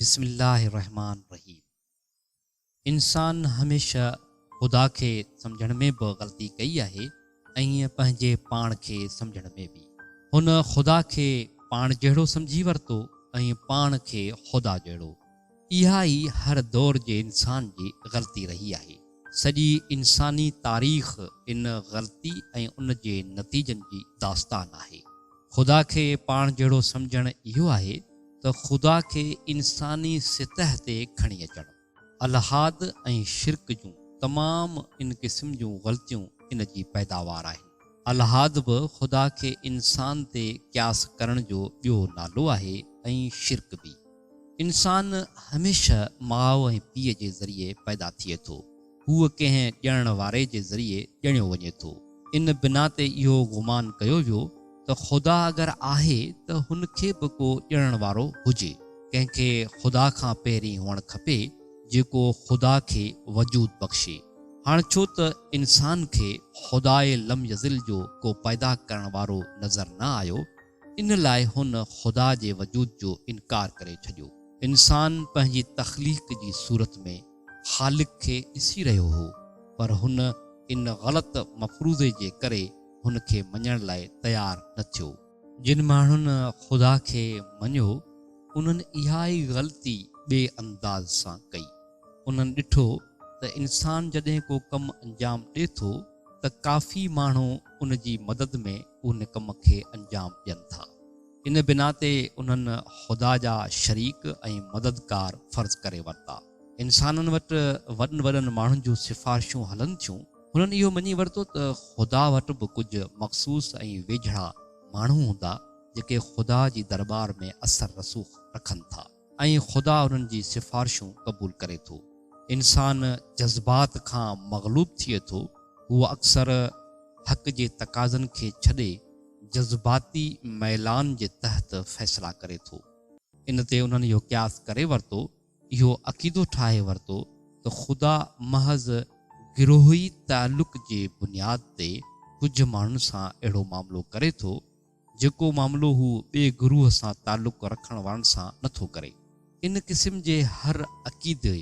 بسم الله الرحمٰن الرحيم انسان هميشه خدا کي سمجهڻ ۾ به غلطي ڪئي آهي ۽ ائين پنهنجي پاڻ کي سمجهڻ ۾ به. هن خدا کي پاڻ جهڙو سمجهي ورتو ۽ پاڻ کي خدا جهڙو. اها ئي هر دور جي انسان جي غلطي رهي آهي. سڄي انساني تاريخ ان غلطي ۽ ان جي نتيجن جي داستان آهي. خدا کي پاڻ جهڙو سمجهڻ اهو آهي ته خدا کي انساني سطح تي کڻي اچڻ. الحاد ۽ شرڪ جون تمام ان قسم جون غلطيون ان جي پيداوار آهن. الحاد به خدا کي انسان تي قياس ڪرڻ جو ٻيو نالو آهي ۽ شرڪ به. انسان هميشه ماء ۽ پيء جي ذريعي پيدا ٿئي ٿو. هو ڪنهن ڄڻڻ واري جي ذريعي ڄڻيو وڃي ٿو. ان بنا تي اهو گمان ڪيو ويو ته خدا اگر آهي ته هن کي به ڪو ڄڻڻ وارو هجي. ڪنهن کي خدا کان پهرين هئڻ کپي جيڪو خدا کي وجود بخشي. هاڻ ڇو ته انسان کي خدائي لم يزل جو ڪو پيدا ڪرڻ وارو نظر نه آيو، ان لاء هن خدا جي وجود جو انڪار ڪري ڇڏيو. انسان پنهنجي تخليق جي صورت ۾ خالق کي ڏسي رهيو هو، پر هن ان غلط مفروضي جي ڪري هن کي مڃڻ لاء تيار نه ٿيو. جن ماڻهن خدا کي مڃيو، انهن اها ئي غلطي ٻئي انداز سان ڪئي. انهن ڏٺو ته انسان جڏهن ڪو ڪم انجام ڏي ٿو ته ڪافي ماڻهو ان جي مدد ۾ ان ڪم کي انجام ڏين ٿا. ان بنا تي انهن خدا جا شريڪ ۽ مددگار فرض ڪري ورتا. انسانن وٽ وڏن وڏن ماڻهن جون سفارشون هلن ٿيون. هنن اهو مڃي ورتو ته خدا وٽ به ڪجهه مخصوص ۽ ويجهڙا ماڻهو هوندا جيڪي خدا جي درٻار ۾ اثر رسوخ رکن ٿا. ۽ خدا انهن جي سفارشون قبول ڪري ٿو. انسان جذبات کان مغلوب ٿئي ٿو، هو اڪثر حق جي تقاضن کي ڇڏي جذباتي ميلان جي تحت فيصلا ڪري ٿو. ان تي انهن اهو قياس ڪري ورتو، اهو عقيدو ٺاهي ورتو ته خدا محض گروهي تعلق جي بنياد تي ڪجهه ماڻهن سان اهڙو معاملو ڪري ٿو، جيڪو معاملو هو ٻئي گروهه سان تعلق رکڻ وارن سان نه ٿو ڪري. ان قسم جي هر عقيدي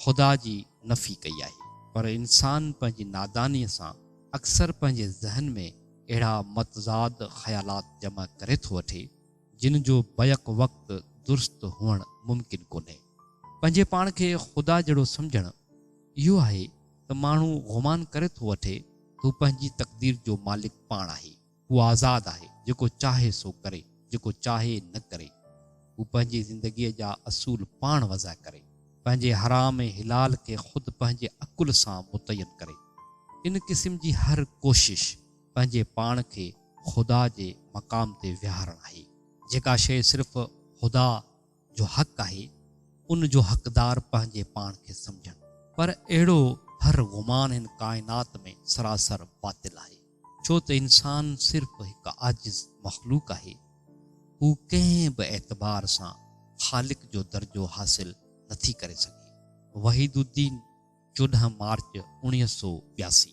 خدا جي نفي ڪئي آهي. پر انسان پنهنجي نادانيء سان اڪثر پنهنجي ذهن ۾ اهڙا متضاد خيالات جمع ڪري ٿو وٺي، جن جو بيڪ وقت درست هئڻ ممڪن ڪونهي. پنهنجي پاڻ کي خدا جهڙو سمجهڻ اهو آهي ته ماڻهو گمان ڪري ٿو وٺي ته هو پنهنجي تقدير جو مالڪ پاڻ آهي. هو آزاد آهي، جيڪو چاهي سو ڪري، جيڪو چاهي نه ڪري. هو پنهنجي زندگيء جا اصول پاڻ وضع ڪري، پنهنجي حرام ۽ حلال کي خود پنهنجي عقل سان متعين ڪري. ان قسم جي هر ڪوشش پنهنجي پاڻ کي خدا جي مقام تي ويهارڻ آهي. جيڪا شيء صرف خدا جو حق آهي، ان جو حقدار پنهنجي پاڻ کي سمجهن. پر اهڙو هر گمان هن ڪائنات ۾ سراسر باطل آهي، ڇو ته انسان صرف هڪ عاجز مخلوق آهي، هو ڪنهن به اعتبار سان خالق جو درجو حاصل نٿي ڪري سگهي. وحيد الدين، چوڏهن مارچ، اڻويهه سؤ ٻياسي.